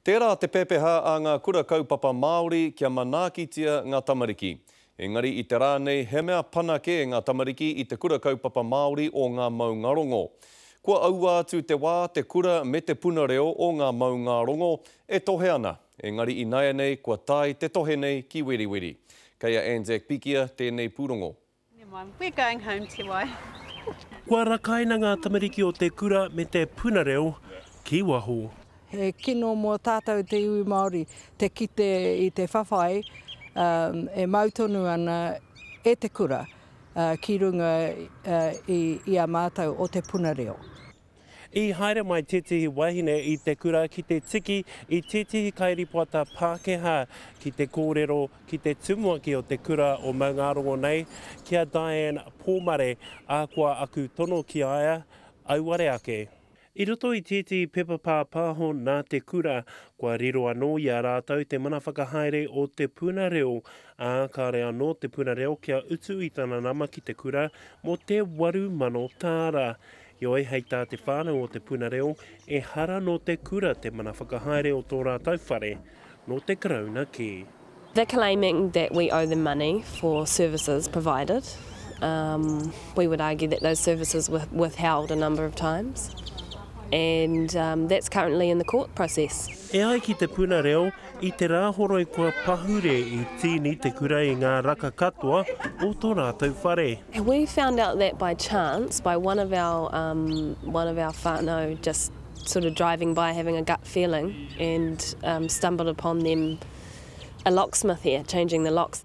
Tērā te pepeha a ngā Kura Kaupapa Māori kia manaakitia ngā tamariki. Engari i te rā nei he mea pana kē ngā tamariki i te Kura Kaupapa Māori o ngā maungārongo. Kua aua atu te wā te kura me te puna reo o ngā maungārongo e tohe ana, engari i naianei kua tae te tohe nei ki Weriweri. Kei a Anzac Pikia tēnei pūrongo. Never mind, we're going home te wai. Kua rakaina ngā tamariki o te kura me te puna reo ki waho. He kino mō tātou te iwi Māori te kite i te whawhai e mau tonu ana e te kura ki runga i a mātou o te puna reo. I haere mai tētehi wahine i te kura ki te tiki i tētehi kairīpoata Pākehā ki te kōrero ki te tumuaki o te kura o Maungārongo nei, ki a Diane Pōmare, ā, kua aku tono ki a ia, auare ake. I roto i tētehi pepa pāpāho nā te kura, kua riro anō i a rātou te mana whakahaere o te puna reo, ā, kāore anō te puna reo kia utu i tana nama ki te kura mō te waru mano tāra. Heoi, hei tā te whānau o Te Puna Reo, ehara nō te kura te mana whakahaere o tō rātou whare, nō te Karauna kē. They're claiming that we owe them money for services provided. We would argue that those services were withheld a number of times and that's currently in the court process. E ai ki Te Puna Reo, I te Rāhoroi kua pahure i tīni te kura i ngā raka katoa o tō rātou whare. We found out that by chance by one of our um one of our whanau just sort of driving by having a gut feeling and um stumbled upon them a locksmith here changing the locks.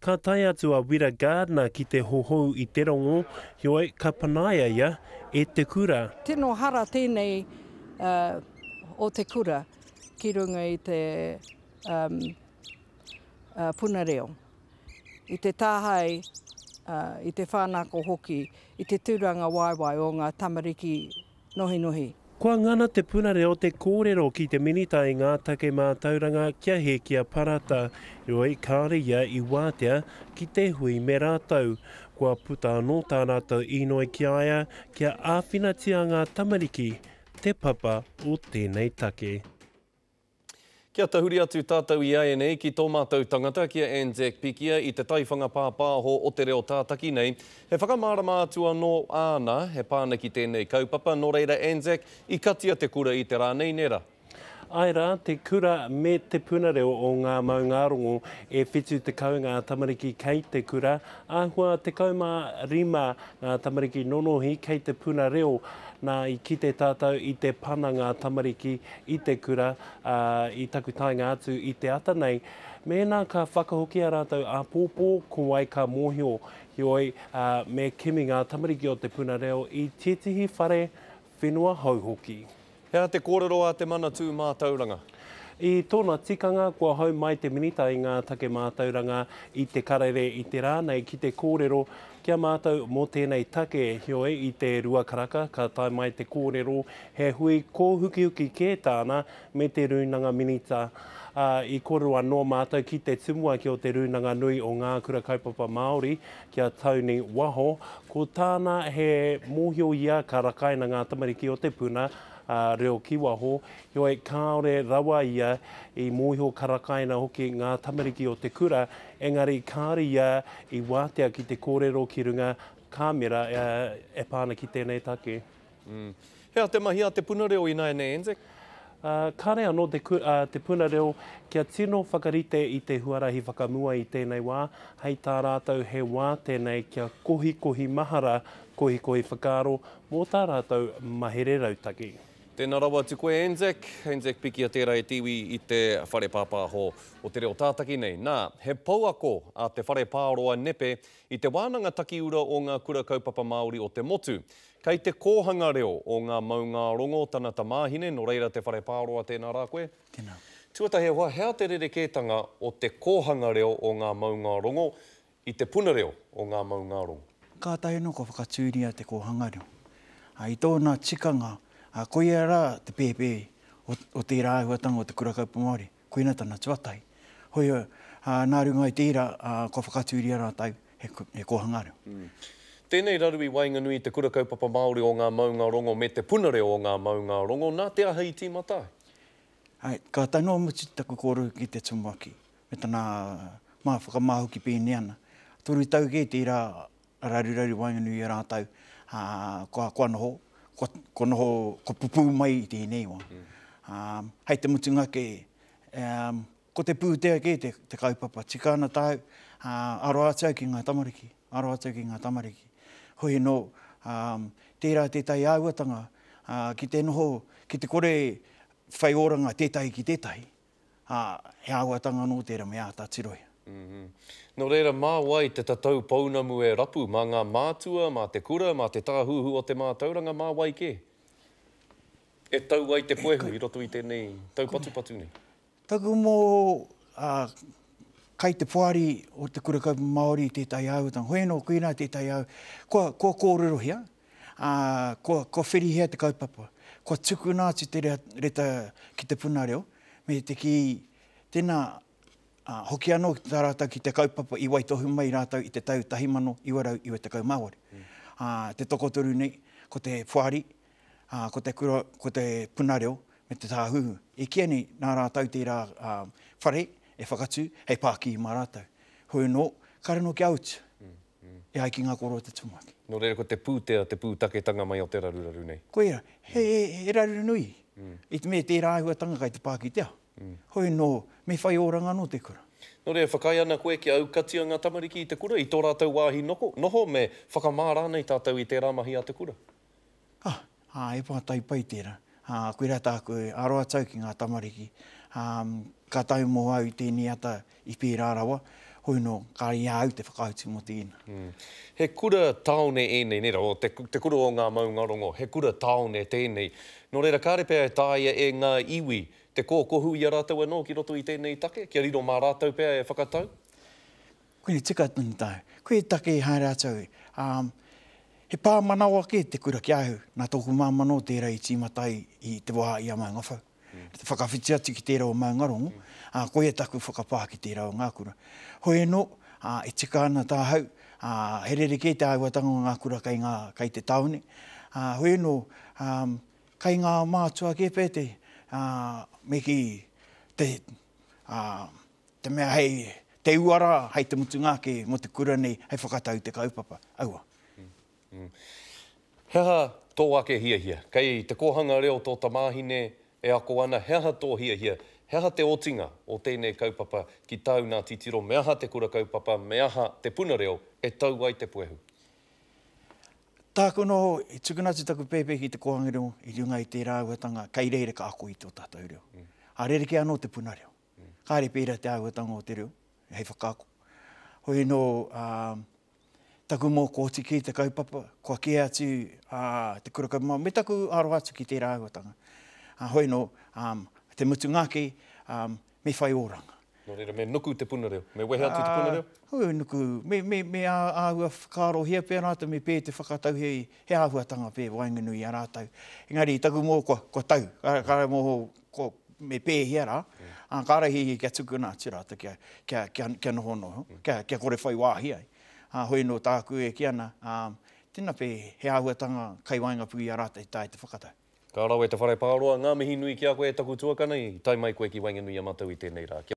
Ka tae atu a Wira Gardiner ki te hohou i te rongo, heoi, ka panaia ia e te kura. Tino hara tēnei o te kura ki runga i te puna reo, i te tāhae, i te whānako hoki, i te tūrangawaewae o ngā tamariki nohinohi. Kua ngana te punare o te kōrero ki te Minita i ngā take mātauranga kia hēkia parata, heoi kāore ia i wātea ki te hui me rātou. Kua puta anō tā rātou īnoi ki a ia kia āwhinatia ngā tamariki, te papa o tēnei take. Kia tahuri atu tātou i ēnei ki tō mātou tangata, ki a Anzac Pikia i te taiwhanga pāpāho o te reo tātaki nei. He whakamārama atu anō āna, he pānaki tēnei kaupapa, nō reira Anzac, i katia te kura i te rā nei, nē rā? Āe rā, te kura me Te Puna Reo o Ngā Maungārongo, e 70 ngā tamariki kei te kura, āhua 15 ngā tamariki nonohi kei te puna reo. Nā, i kite tātou i te pana ngā tamariki i te kura, ā, i taku taenga atu i te ata nei, mēnā ka whakahoki ā rātou āpōpō, ko wai ka mōhio? Heoi, ā, me kimi ngā tamariki o te puna reo i tētehi whare whenua hou hoki. He aha te kōrero a Te Manatū Mātauranga? I tōna tikanga, kua hou mai te Minita i ngā take mātauranga i te Karere i te rā nei ki te kōrero ki a mātou mō tēnei take. Heoi, i te rua karaka, ka tae mai te kōrero He hui kōhukihuki kē tāna me te Rūnanga Minita, ā, i koro anō mātou ki te tumuaki o te Rūnanga Nui o Ngā Kura Kaupapa Māori ki a Tony Waho, ko tāna he mōhio ia ka rakaina ngā tamariki o te puna, ā, reo ki waho, heoi kāore rawa ia i mōhio ka rakaina hoki ngā tamariki o te kura, engari kāore ia i wātea ki te kōrero ki runga kāmera e pā ana ki tēnei take. Hea te mahi a te puna reo ināianei, Anzac? Kāre anō te puna reo kia tino whakarite i te huarahi whakamua i tēnei wā, hei tā rātou he wā tēnei kia kohikohi mahara, kohikohi whakaaro mō tā rātou mahere rautaki. Tēnā rawa atu koe, Anzac. Anzac Pikia tērā e te iwi i te whare pāpāho o te reo tātaki nei. Nā, he pouako a te whare Pāroa Nepe i te wānanga takiura o ngā Kura Kaupapa Māori o te motu. Kei te kōhanga reo o ngā maungārongo tana tamāhine, nō reira te whare pāroa tēnā rā koe. Tēnā. Tuatahi e hoa, he aha te rerekētanga o te kōhanga reo o ngā maungārongo i te puna reo o ngā maungārongo? Kātahi anō ka whakatūria te kōhanga reo. Ā, i tōna tikanga, ā, koia rā te pēpē o tērā āhuatanga o te Kura Kaupapa Māori. koina tana tuatahi. Hoi, nā runga i te ira, kua whakatūria rātou he kōhanga reo. Tēnei raru i waenganui i te Kura Kaupapa Māori o Ngā Maungārongo me Te Puna Reo o Ngā Maungārongo, nā te aha i tīmata ai? Hai, ka tae noa mutu taku kōrero ki te Tumuaki, me tana whakamā hoki pēnei ana, toru tau kē tērā raruraru waenganui i a rātou, ā, kua, kua noho, kua, kua noho, kua pupū mai i tēnei wā. Ā, hei te mutunga kē, ā, ko te pūtea kē te, te kaupapa. Tika ana tāu, ā, aro atu au ki ngā tamariki, aro atu au ki ngā tamariki. Hoi anō, ā, tērā tētahi āhuatanga, ā, ki te noho, ki te kore whai oranga tētahi ki tētahi, ā, he āhuatanga anō tērā me āta tirohia. Nō reira, mā wai te tatau pounamu e rapu, mā ngā mātua, mā te kura, mā te tāhuhu o te mātauranga, mā wai kē e tau ai te puehu i roto i tēnei taupatupatu nei? Taku momo, ā, kai te poari o te Kura Kaupapa Māori i tētahi āhuatanga, hoi anō, koinā tētahi āhuatanga, kua, kua kōrerohia, ā, kua, kua whirihia te kaupapa, kua tukuna atu te rea, reta ki te puna reo, me te kī, tēnā, ā, hoki anō tā rātou ki te kaupapa i waitohu mai rātou i te tau 1998. Ā, te tokotoru nei, ko te poari, ā, ko te kura, ko te puna reo, me te tāhuhu. E kīia nei, nā rātou tērā, ā, whare e whakatū hei pākihi mā rātou. Hoi anō, kare anō kia utu. e ai ki ngā koro o te tumuaki. Nō reira ko te pūtea te pūtaketanga mai o te raruraru nei. Koia, he raru nui, i te mea tērā āhuatanga kai te pā ki te ao. Hoi nō, me whai oranga anō te kura. Nō reira, whakaae ana koe kia aukatia ngā tamariki i te kura, i tō rātou wāhi noho, me whakamā rānei tātou i tērā mahi a te kura? Ah, ah, he pātai pai tērā. Ah, koirā tāku e aro atu au ki ngā tamariki. Um, ka tae mō au i tēnei ata i pērā rawa, hoi nō, kāre i a au te whakautu mō tēnā. Mm. He kura tāone ēnei, nē rawa, te, te kura o ngā maungarongo, he kura tāone tēnei. Nō reira, kāre pea e tāia e ngā iwi te kōkohu i a rātou anō ki roto i tēnei take, kia riro mā rātou pea e whakatau? Koe e tika tonu tāu, koe e take e haere atu au, ā, he pāmanawa kē te kura ki a au, nā tōku māmā nō tērā i tīmata ai i te wā i a Maungawhau, me te whakawhiti atu ki tērā o Maungarongo, ā, koia taku whakapā ki tērā o ngā kura. Hoi anō, ā, e tika ana tāhau, ā, he rerekē te āhuatanga o ngā kura kei ngā, kei te tāone, ā, hoi anō, ā, kei ngā mātua kē pētēhi, ā, me kī, te, ā, Te mea hei te uara, hei te mutunga ake mō te kura nei, hei whakatau i te kaupapa. Aua. He aha tō ake hiahia? Kei te kōhanga reo tō tamāhine e ako ana, he aha tō hiahia, he aha te otinga o tēnei kaupapa ki tāu nā titiro, me aha te kura kaupapa, me aha te puna reo e tau ai te puehu? Tāku anō, i tukuna atu taku pēpē ki te kōhanga reo i runga i tērā āhuatanga kei reira ka ako i tō tātou reo. Ā, rerekē anō te puna reo. kāre pērā te āhuatanga o te reo, hei whakaako. Hoi anō, taku mōkōti ki te kaupapa, kua kē atu te kura kaupapa, me taku aroha atu ki tērā āhuatanga. Hoi anō, te mutunga ake, me whai oranga. Nō reira, me nuku te puna reo, me wehe atu te puna reo? Hoi, nuku, me āhua whakaarohia pea rātou, me pē te whakatau he āhuatanga pē waenganui i a rātou. Engari, taku mō, kua tau, kāre mō ko, me pēhea rā, ā, kāre he ia kia tukuna atu rātou kia, kia, kia, kia nohonoho, kia, kia kore whai wāhi ai. Ā, hoi anō tāku e kī ana, ā, tēnā pē, he āhuatanga kai waengapū i a rātou i tae te whakatau. Ka rawe te whare pāroa, ngā mihi nui ki a koe e taku tuakana i tae mai koe ki waenganui i a matou i tenei ra. Kia.